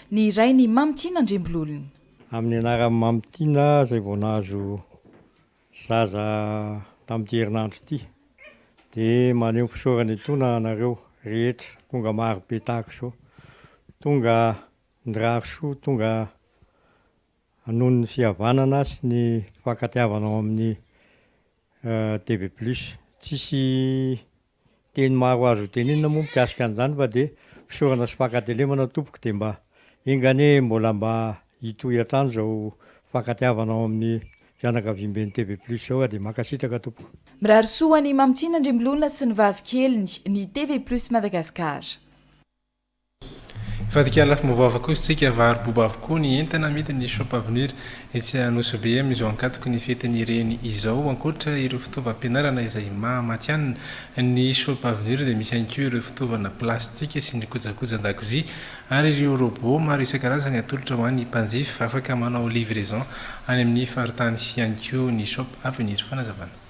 Ny iray ny Mamy Tiana Andriambololona. Amin'ny anaran'i Mamy Tiana izay vao nahazo zaza tamin'ity herinandro ity dia maneho ny fisaorana etoana anareo rehetra tonga maro be tahaka izao, tonga nirary soa, tonga noho ny fihavanana sy ny fifankatiavana ao amin'ny DB plus. Tsisy. Teny maro azo hotenenina moa mikasika an'izany fa dia fisaorana sy fankatelemana tompoko dia mba enga anie mbola mba hitohy hatrany izao fankatiavana ao amin'ny fianakaviamben'ny TV plus izao ka dia mankasitraka tompoko. Mirary soa ho an'i Mamy Tiana Andriambolona sy ny vavikeliny, ny TV plus Madagascar. Hivadika lafim-baovao avokoa isika, varo-boba avokoa ny entana amidin' ny Shop Avenir etsy Anosibe amin' izao ankatoky ny fetin' ny Reny izao. Ankoatra ireo fitaovam-pianarana izay maha matihanina ny Shop Avenir dia misy ihany koa ireo fitaovana plastika sy ny kojakoja an-dakozia ary ireo robot maro isan-karazany atolotra ho an' ny mpanjifa. Afaka manao livraison any amin' ny faritany ihany koa ny Shop Avenir. Fanazavana.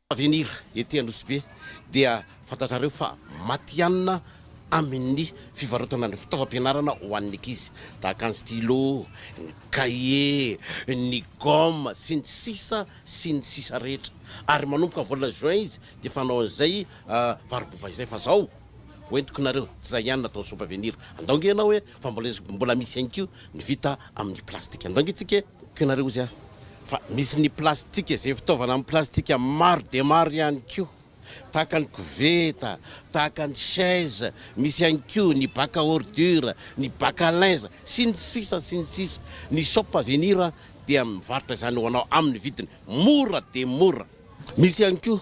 Avenir ety Anosibe dia fantatrareo fa matihanina amin'ny fivarotana ny fitaovam-pianarana ho an'ny ankizy tahaka ny stylo, ny cahier, ny gomme sy ny sisa sy ny sisa rehetra ary manomboka volana juin izy dia fanao an'izay varo-boba izay fa zao. Hoentiko nareo zay ihany natao soupe à venir andao nge ianao e fa mbola izy mbola misy ihany ko ny vita amin'ny plastika andao nge tsika e ko ianareo izy a fa misy ny plastika zay fitaovana amin'ny plastika maro dia maro ihany ko tahaka ny koveta tahaka ny chaise misy ihany ko ny bac à ordure ny bac à linge sy ny sisa sy ny sisa ny soupe à venir dia mivarotra izany ho anao amin'ny vidiny mora dia mora Misy ihany koa,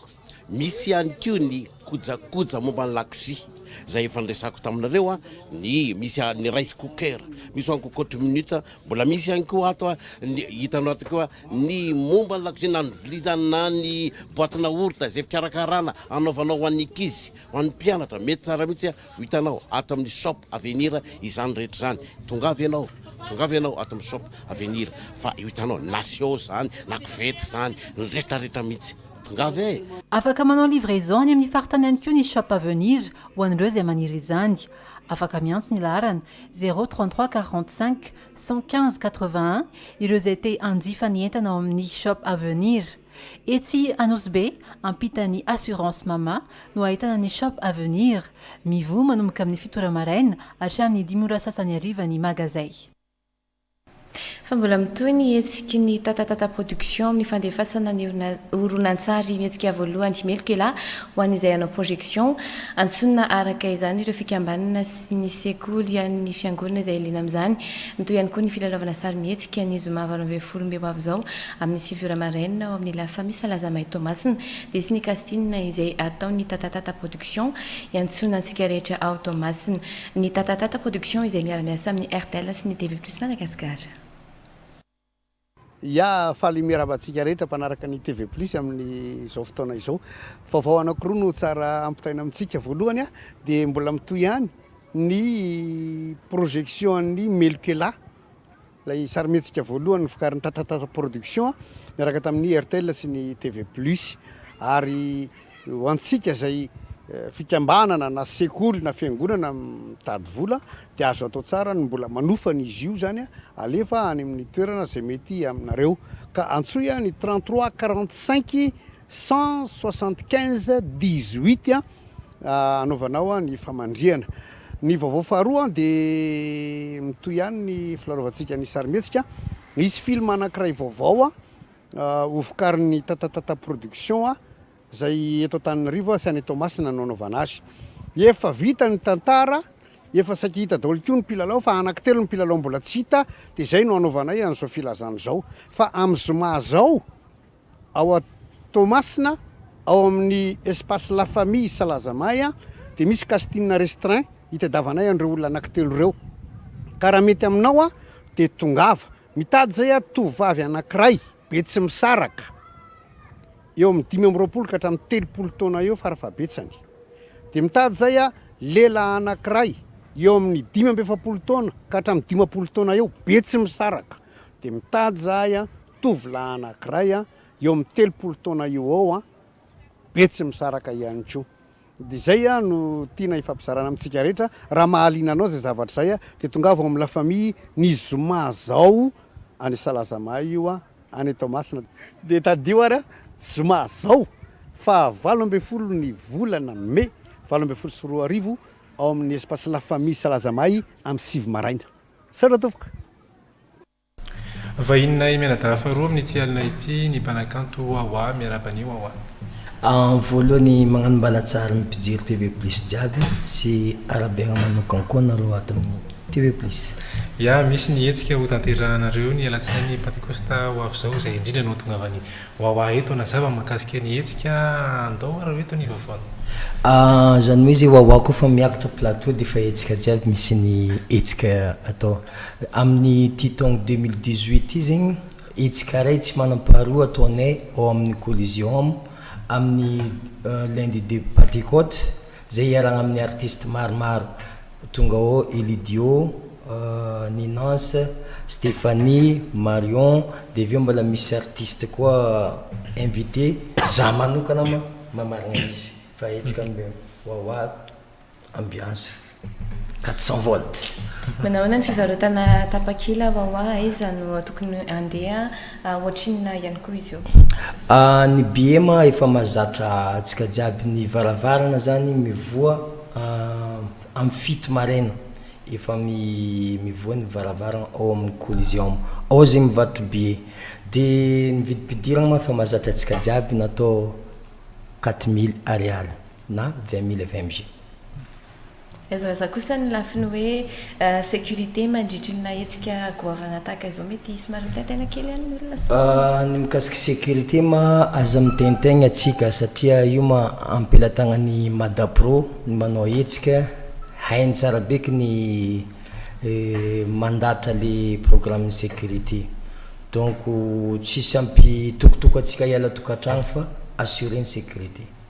misy ihany koa ny kojakoja momba ny lakozia izay efa niresahako taminareo, ny misy ny rice cooker, misy one cocotte minute, mbola misy ihany koa ato ny hitanao ato koa ny momba ny lakozia na ny vilia izany na ny boaty naorita izay fikarakarana anaovanao ho an'ny ankizy, ho an'ny mpianatra, mety tsara mihitsy Ho hitanao ato amin'ny Shop Avenir izany rehetra izany. Tongava ianao, tongava ianao ato amin'ny Shop Avenir fa ho hitanao na siô izany, na kovety izany, ny retraretra mihitsy. Tongava e! Afaka manao livraison any amin'ny faritany ihany koa ny Shop Avenir ho an'ireo izay maniry izany. Afaka miantso ny laharana, zéro trente trois quarante cinq cent quinze quatre vingt un, ireo izay te hanjifa ny entana ao amin'ny Shop Avenir. Etsy Anosibe, ampitan'ny Assurance Mama, no ahitana ny Shop Avenir. Mivoha manomboka amin'ny fito ora maraina hatramin'ny dimy ora sasany hariva ny magazay. Fa mbola mitohy ny hetsiky ny Tatatata Production amin'ny fandefasana ny horonantsary mihetsika voalohany Meloka Elah ho an'izay hanao projection. Antsonina araka izany ireo fikambanana sy ny sekoly an'ny fiangonana izay liana amin'izany. Mitohy ihany koa ny filalaovana sarimihetsika ny zoma valo ambin'ny folo mey ho avy izao Amin'ny sivy ora maraina ao amin'ny La Famille Salazamay Toamasina dia tsy nikasinina izay ataon'ny Tatatata Production iantsoana antsika rehetra ao Toamasina. Ny Tatatata Production izay miara-miasa amin'ny rtl sy ny TV Plus Madagascar. Ya, faly miarahaba antsika rehetra mpanaraka ny TV Plus amin'izao fotoana izao. Vaovao anankiroa no tsara ampitaina amintsika. Voalohany dia mbola mitohy ihany ny projection an'i Melokela. Ilay sarimihetsika voalohany novokarin'ny Tatatata Production niaraka tamin'ny Airtel sy ny TV Plus. Ary ho antsika izay fikambanana na sekoly na fiangonana mitady vola dia azo atao tsara ny mbola manofa ny izy io izany alefa any amin'ny toerana izay mety aminareo. Ka antsoy ny 33 45. Cent soixante quinze dix huit a anaovanao a ny famandrihana ny vaovao faharoa a dia mitohy ihany ny filarovantsika ny sarimihetsika hisy film anankiray vaovao a hovokarin'ny tatatata production a izay eto Antananarivo a sy any Toamasina no anaovana azy efa vita ny tantara efa saiky hita daholo koa ny mpilalao fa anankitelo ny mpilalao mbola tsy hita dia izay no anaovanay an'izao filazana izao fa amin'ny zoma zao Ao Toamasina, ao amin'ny Espace La Famille Salazamay dia misy casting restreint hitadiavanay an'ireo olona anankitelo ireo. Ka raha mety aminao dia tongava. Mitady izay aho tovovavy anankiray, betsimisaraka, eo amin'ny dimy amby roapolo ka hatramin'ny telopolo taona eo farafahabetsany. Dia mitady izay aho lehilahy anankiray, eo amin'ny dimy amby efapolo taona ka hatramin'ny dimampolo taona eo, betsimisaraka. Dia mitady izahay tovolahy anankiray eo amin'ny telopolo taona eo ho eo, Betsimisaraka ihany koa. Dia izay no tiana hifampizarana amintsika rehetra. Raha mahaliana anao izay zavatra izay dia tongava ao amin'ny La Famille ny zoma izao any Salazamahay io any Toamasina. Dia tadidio ary zoma izao faha valo ambin'ny folo ny volana mey valo ambin'ny folo sy roa arivo ao amin'ny Espace La Famille Salazamahay amin'ny sivy maraina. Misaotra tompoko. Vahininay mianadahy faharoa amin'ity alina ity ny mpanakanto Wawa, miarahaba an'i Wawa. Amin'ny voalohany magnano mbalatsary ny mpijery TV plus jiaby sy arahabaina manokan koa anareo ato amin'ny TV plus. Ya, misy ny hetsika ho tanterahanareo ny alatsinainy pantekosta ho avy izao izay indrindra no hahatongavan'i Wawa eto hanazava ny mahakasika ny hetsika, andao ary eto ny vaovaony. Ahh, zany hoe ze Wawa koa fa miakatra plateau dia efa hetsika jiaby misy ny hetsika atao. Amin'ity taona deux mille dix-huit ity zegny, hetsika iray tsy manam-paharoa ataonay ao amin'ny Coliseum amin'ny lundi de Pentecote izay iarahana amin'ny artiste maromaro tonga ao Elidio, Ninans, Stephanie, Marion dia avy eo mbola misy artiste koa invité, za manokana ma- mamarigna izy fa hetsika wawa. Ambiance 400 volts. Manahoana ny fivarotana tapakila wa wa, aiza no tokony handeha, ohatrinona ihany koa izy io? Ny BM efa mahazatra antsika jiaby, ny varavarana zany mivoha amin'ny fito maraina, efa mivoha ny varavarana ao amin'ny Coliseum ao zay mivarotra billet, de ny vidim-pidirana moa efa mahazatra antsika jiaby na atao quatre mille ariary. na vingt mille vmg. Azo razana kosa ny lafiny hoe sécurité mandritry ny nahetsika goavana tahaka izao mety hisy somary mitaintaina kely ihany ny olona sao? Ny mikasika sécurité ma aza mitaintaigna atsika satria io ma ampelatagnan'ny Madapro ny manao hetsika hainy tsara be ky ny mandatra le programme sécurité donc tsisy ampitokotoko atsika hiala tokantragno fa assuré ny sécurité.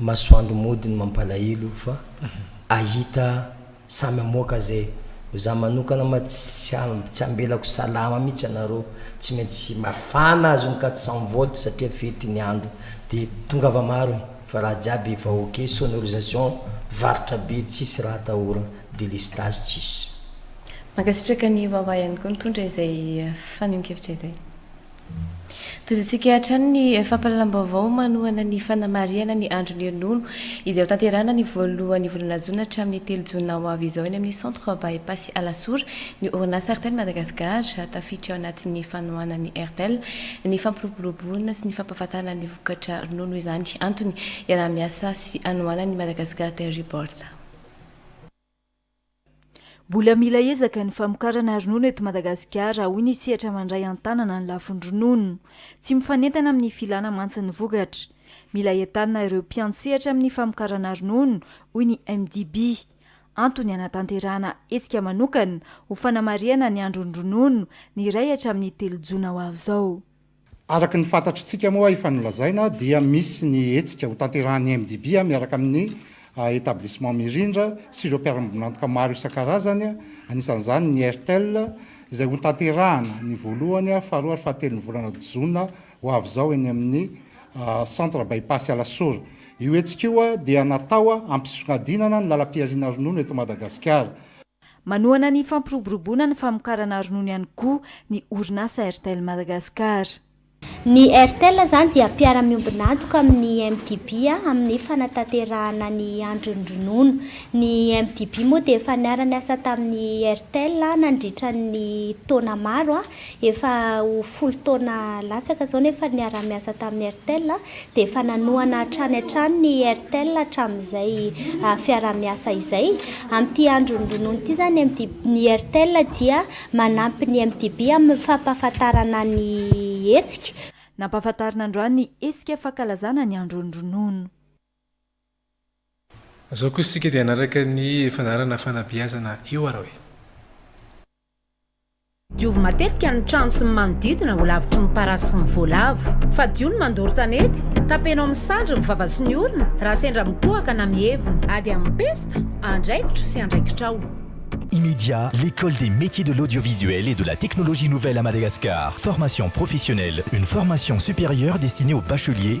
Masoandro mody ny mampalahilo fa ahita samy amoaka zay ho za manokana ma tsy tsy ambelako salama mitsy anareo tsy maintsy mafana azy ny quatre cent volt satria fety ny andro de tongava maro e fa raha jiaby efa ok sonorisation varotra be tsisy raha atahorana délestage tsisy. Mankasitraka an'i Wawa ihany koa nitondra izay fanehoan-kevitra izay. Tohizintsika hatrany ny fampahalalam-baovao manohana ny fanamarihana ny Andron'ny Ronono, izay ho tanterahina ny voalohan'ny volana jona hatramin'ny telo jona ho avy izao eny amin'ny Centre By-Pass Alasora ny orinasa Airtel Madagascar. Tafiditra ao anatin'ny fanohanan'ny Airtel ny fampiroboroboana sy ny fampahafantarana ny vokatra ronono izany antony iaraha-miasa sy anohanan'ny Madagascar Dairy Board. Mbola mila ezaka ny famokarana ronono eto Madagasikara, hoy ny sehatra mandray an-tanana ny lafiny ronono. Tsy mifanentana amin'ny filana mantsy ny vokatra. Mila entanina ireo mpiantsehatra amin'ny famokarana ronono, hoy ny MDB. Antony hanatanterahana hetsika manokana ho fanamarihana ny andron'ny ronono ny iray hatramin'ny telo jona ho avy izao. Araka ny fantatritsika moa efa nolazaina dia misy ny hetsika ho tanterahan'ny MDB miaraka amin'ny Etablissement Mirindra sy ireo mpiara-miombon'antoka maro isan-karazany, anisan'izany ny Airtel, izay ho tanterahana ny voalohany, faharoa ary fahatelon'ny volana jona ho avy izao eny amin'ny Centre By-pass Alasora. Io hetsika io dia natao hampisongadinana ny lalam-pihariana ronono eto Madagasikara. Manohana ny fampiroboroboana ny famokarana ronono ihany koa ny orinasa Airtel Madagascar. Ny Airtel izany dia mpiara-miombon'antoka amin'ny MDB amin'ny fanatanterahana ny andron'ny ronono. Ny MDB moa dia efa niara-niasa tamin'ny Airtel nandritra ny taona maro Efa ho folo taona latsaka izao nefa ny niara-niasa tamin'ny Airtel dia efa nanohana hatrany hatrany ny Airtel hatramin'izay fiaraha-miasa izay. Amin'ity andron'ny ronono ity izany ny Airtel dia manampy ny MTB amin'ny fampahafantarana ny hetsika. Nampahafantarina androany ny hetsika fankalazana ny andron'ny ronono. Izao kosa isika dia hanaraka ny fandaharana fanabeazana io ary hoe. Diovy matetika ny trano sy ny manodidina ho lavitry ny parasy sy ny voalavo. Fadio ny mandoro tanety. Tapenao amin'ny sandry ny vava sy ny orona raha sendra mitohaka na mievona. Ady amin'ny pesta, andraikitro sy andraikitrao. Imedia, l'Ecole des Métiers de l'Audiovisuel et de la Technologie Nouvelle à Madagascar, Formation Professionnelle, une formation supérieure destinée aux bacheliers,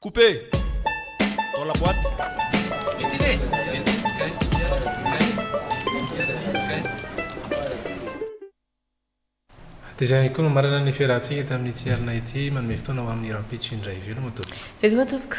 Couper dans la boite. Ventile, ventile, kay, kay, kay, kay. Dia izay ihany koa no marina ny fiarahantsika tamin'ity alina ity. Manome fotoana ho amin'ny rahampitso indray. Veloma tompoko. Veloma tompoko.